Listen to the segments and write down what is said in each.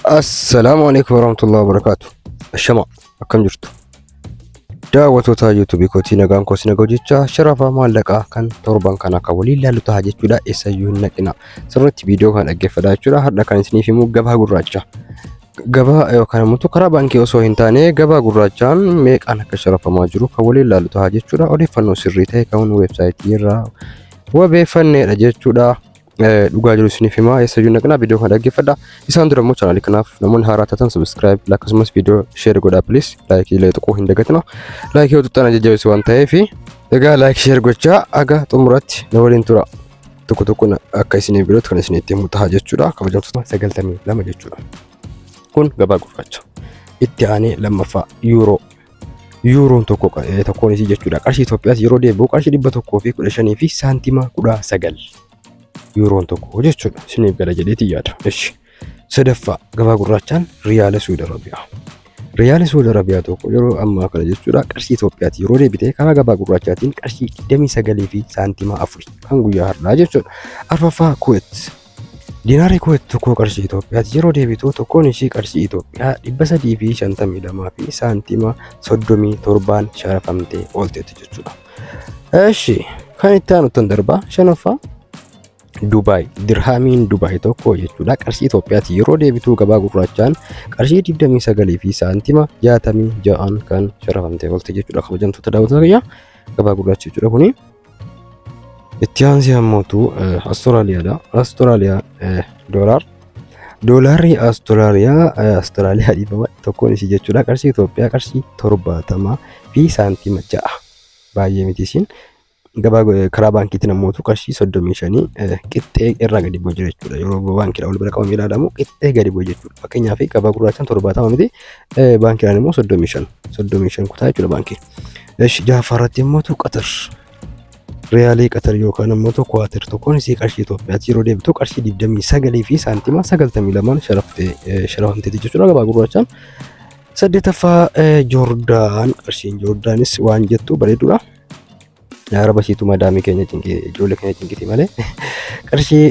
Assalaamu alaikum warahmatullahi wabarakaatu. Ashama akkam jirtu? Daawwattoota YouTube kootii nagaan koo sinaga hojjechaa sharafa maallaqaa kan torban kana akka waliin ilaallu ta'a jechuudha eessayyuu hin naqina. Sirriitti viidiyoo kana dhaggeeffadhaa jechuudha. Har'a kan isiniif himu gabaa gurraacha. Gabaa yookaan immoo karaa baankii osoo hin taane gabaa gurraachaan meeqaan akka sharafamaa jiru kan waliin ilaallu ta'a jechuudha. Odeeffannoo sirrii ta'e kan weebsaayitii irraa wabeeffanneedha jechuudha. dhugaa jiru isiniif himaa eessa iyyuu naqnaa viidiyoo kana dhaggeeffadha isaan dura immoo chaanaalii kanaaf namoonni haaraa taatan subscribe akkasumas viidiyoo sheer godhaa please laayikii illee tuquu hin dagatina laayikii yoo tuqxan jajjabeessu waan ta'eef egaa laayikii sheer gochaa aga xumuratti na waliin tura tokko tokkoon akka isinii birootti kan isinitti himu ta'a jechuudha kabajamtoota sagaltamii lama jechuudha kun gabaa gurraacha itti aanee lammaffaa yuuroo Yuuroon tokko tokkoon isii jechuudha. Qarshii Itoophiyaas yeroo deebi'u qarshii dhibba tokkoo fi kudha shanii fi saantima kudha sagal. Yuuroon tokko jechuudha. Isiniif gala jedheetii yaada. Ishi. Sadaffaa gabaa gurraachaan Riyaala Suudi Arabiyaa. Riyaala Suudi Arabiyaa tokko yeroo ammaa kana jechuudha qarshii Itoophiyaati yeroo deebite karaa gabaa gurraachaatiin qarshii 29 fi saantima 4 kan guyyaa har'aa jechuudha. Arfaffaa Kuweet Diinaarri Kuweet tokkoo qarshii Itoophiyaatti yeroo deebitu tokkoon ishii qarshii Itoophiyaa 352 fi saantima 37n sharafamtee oolteetti jechuudha. Eshi kan itti aanuttan darbaa shanaffaa Dubaay dirhaamiin Dubaay tokko jechuudha qarshii Itoophiyaatti yeroo deebitu gabaa gurraachaan qarshii 29 fi saantima 66n kan sharafamtee oolte jechuudha kabajamtoota daawwattoota kiyyaa gabaa gurraacha jechuudha kuni. Itti aansee ammootu Astiraaliyaadha. Astiraaliyaa doolaar. Doolaarri Astiraaliyaa Astiraaliyaa dhiifama tokkoon isii jechuudha. Qarshii Itoophiyaa qarshii torbaatamaa fi saantima ja'a. Baay'ee miti isiin. Gabaa karaa baankiitiin ammootu qarshii soddomii shanii qixxee irraa gadi bu'u jira jechuudha. Yeroo baankiidha wal bira qabamee ilaalamu qixxee gadi bu'u jechuudha. Fakkeenyaaf gabaa gurraachaan torbaatama miti baankiidhaan immoo soddomii shan. Soddomii shan kutaa jechuudha baankiin. Esh jahaffaa irratti immoo tu qatar riyaalii qatar yookaan immoo tu kuwaatir tokkoon isii qarshii Itoophiyaatti yeroo deebitu qarshii 29 fi saantima 92 sharaftee eh, sharafamteeti jechuudha gabaa gurraachaan. Saddeetaffaa eh, Joordaan qarshiin Joordaanis waan jettu bareedudha. Yaa raba siitu madaamii keenya cinqii ijoollee keenya cinqiti malee qarshii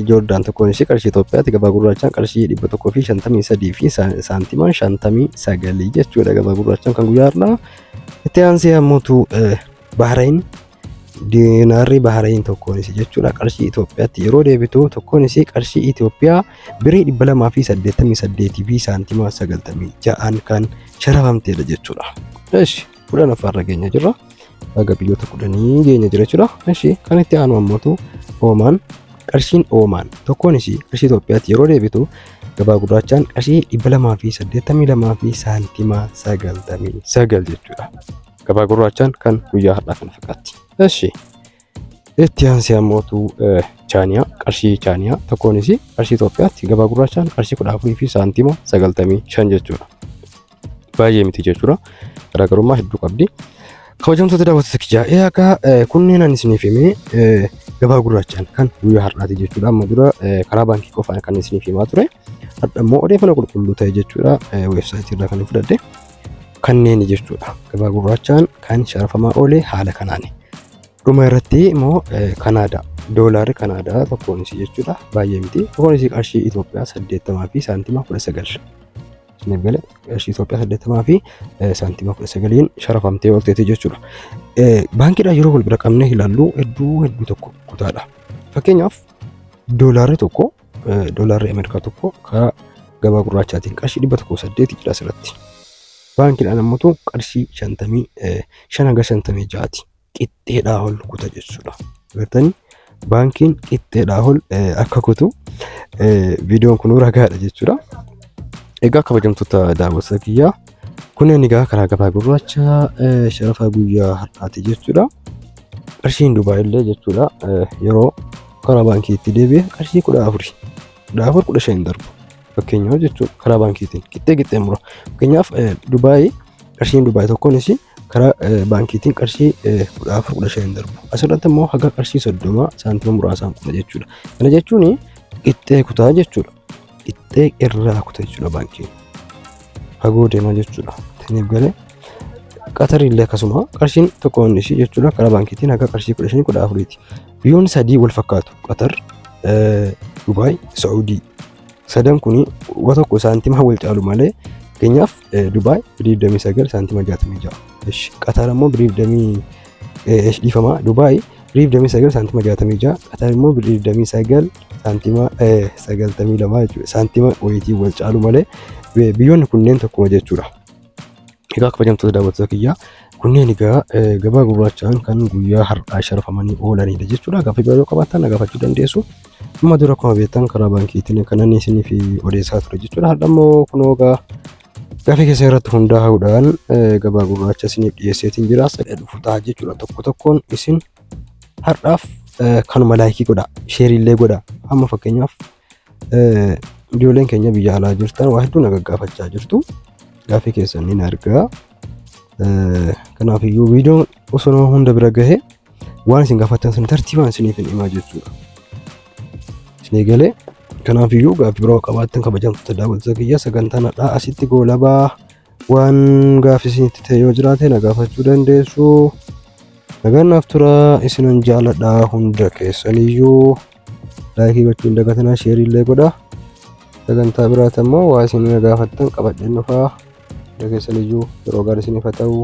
Joordaan tokkoon ishee qarshii Itoophiyaatti gabaa gurraachaan qarshii dhibba tokkoo fi shantamii sadii fi saantimaan shantamii sagalii jechuudha gabaa gurraachaan kan guyyaa har'aa. Itti aansee ammoo Bahrain diinaarri Bahrain tokkoon ishee jechuudha qarshii Itoophiyaatti yeroo deebitu tokkoon ishee qarshii Itoophiyaa birii dhibba lamaa fi saddeettamii saddeetii fi saantimaa sagaltamii ja'aan kan sharafamteedha jechuudha. Eshi. kudhan affaarra geenya jirra. Baga biyyoota kudhanii geenya jira jechuudha. Ishee kan itti aanu ammootu Oomaan qarshiin Oomaan tokkoon isii qarshii Itoophiyaatti yeroo deebitu gabaa gurraachaan qarshii dhibba lamaa fi saddeettamii lamaa fi saantimaa sagaltamii sagal jechuudha. Gabaa gurraachaan kan guyyaa har'aa kana fakkaatti. Ishee itti aansee ammootu chaaniyaa qarshii chaaniyaa tokkoon isii qarshii Itoophiyaatti gabaa gurraachaan qarshii kudha afurii fi saantima sagaltamii shan jechuudha. baay'ee miti jechuudha. Garaagarummaa hedduu qabdi. Kabajamtoota daawwattoota kiyyaa ee akka kunneen ani isiniif himee eh, gabaa gurraachaan kan guyyaa har'aati jechuudha. Amma dura eh, karaa baankii qofaan kan isiniif himaa ture. Hadha immoo odeeffannoo qulqulluu ta'e jechuudha. Eh, Weebsaayitii irraa kan hin fudhadhe. Kanneen jechuudha. Gabaa gurraachaan kan sharafamaa oole haala kanaani. Dhuma irratti immoo eh, Kanaadaa. Doolaarri Kanaadaa tokkoon isii jechuudha. Baay'ee miti. Tokkoon isii qarshii Itoophiyaa 80 fi saantima 19. isiniif gale qarshii Itoophiyaa saddeettamaa fi saantima kudha sagaliin sharafamtee oolteeti jechuudha. Baankiidhaan yeroo wal bira qabnee ilaallu hedduu hedduu tokko kutaadha. Fakkeenyaaf doolaarri tokko doolaarri Ameerikaa tokko karaa gabaa gurraachaatiin qarshii dhibba tokko saddeeti jira asirratti. Baankiidhaan ammoo qarshii shantamii shan hanga shantamii ja'aati. qixxeedhaa ol kuta jechuudha. Agartanii baankiin qixxeedhaa ol akka kutu viidiyoon kun ragaadha jechuudha. Egaa kabajamtoota daawwattoota kiyyaa kunneen egaa karaa gabaa gurraacha sharafa guyyaa har'aati jechuudha. Qarshiin Dubaay illee jechuudha yeroo karaa baankiitti deebi'e qarshii kudha afuri kudha afur kudha shan darbu fakkeenyaaf jechuudha karaa baankiitiin qixxee qixxee mura fakkeenyaaf Dubaay Qarshiin Dubaay tokkonis karaa eh, baankiitiin qarshii eh, kudha afur kudha shan darbu. Asirratti immoo haga qarshii soddoma saantima muraasaan kuta jechuudha. Kana jechuun qixxee kutaa jechuudha. Qixxee irraa kuta jechuudha baankiin. Fagoo deema jechuudha. Taniif galee Qatarii illee akkasuma qarshiin tokko inni ishii jechuudha karaa baankiitiin haga qarshii kudha shanii kudha afuriiti. Biyyoonni sadii wal fakkaatu Qatar, eh, Dubaay, Saa'udii. Sadan kun waa tokko saantima wal caalu malee fakkeenyaaf Dubaay birii 29 saantima 66. Ishi Qatar ammoo birii 20 dhiifama Dubaay birii 29 saantima 66 Qatar immoo birii 29 saantima 92 jechuudha. Saantima wayitii wal caalu malee biyyoonni kunneen tokkuma jechuudha. Egaa kabajamtoota daawwattoota kiyyaa kunneen egaa gabaa gurraachaan kan guyyaa har'aa sharafamanii oolanidha jechuudha. Gaaffii biroo qabaattan na gaafachuu dandeessu. Amma dura akkuma beektan karaa baankiitiin kanan isiniif odeessaa ture jechuudha. Har'a immoo kun hoogaa gaaffii keessa irratti hundaa'uudhaan gabaa gurraacha isiniif dhiyeesseetiin jira. Sadha dhufu ta'a jechuudha. Tokko tokkoon isin har'aaf kanuma laayikii godha. Sheeriillee godha. Amma fakkeenyaaf ijoolleen keenya biyya alaa jirtan waa hedduu na gaggaafachaa jirtu. Gaaffii keessan ni argaa. Kanaaf iyyuu viidiyoon osoo nama hunda bira gahee waan isin gaafattan sun tartiibaan isiniif hin himaa jechuudha. Isin eegalee kanaaf iyyuu gaaffii biroo qabaattan kabajamtoota daawwattoota kiyya sagantaan har'aa asitti goolabaa waan gaaffii isinitti ta'e yoo jiraate na gaafachuu dandeessu. Nagaan naaf tura isinan jaaladha hunda keessaniyyuu. laayikii gochuu hin dagatinaa sheerii illee godhaa sagantaa biraati ammoo waa isin gaafattan qabadheen dhufaa dageessan iyyuu yeroo gaarii isiniif haa ta'u.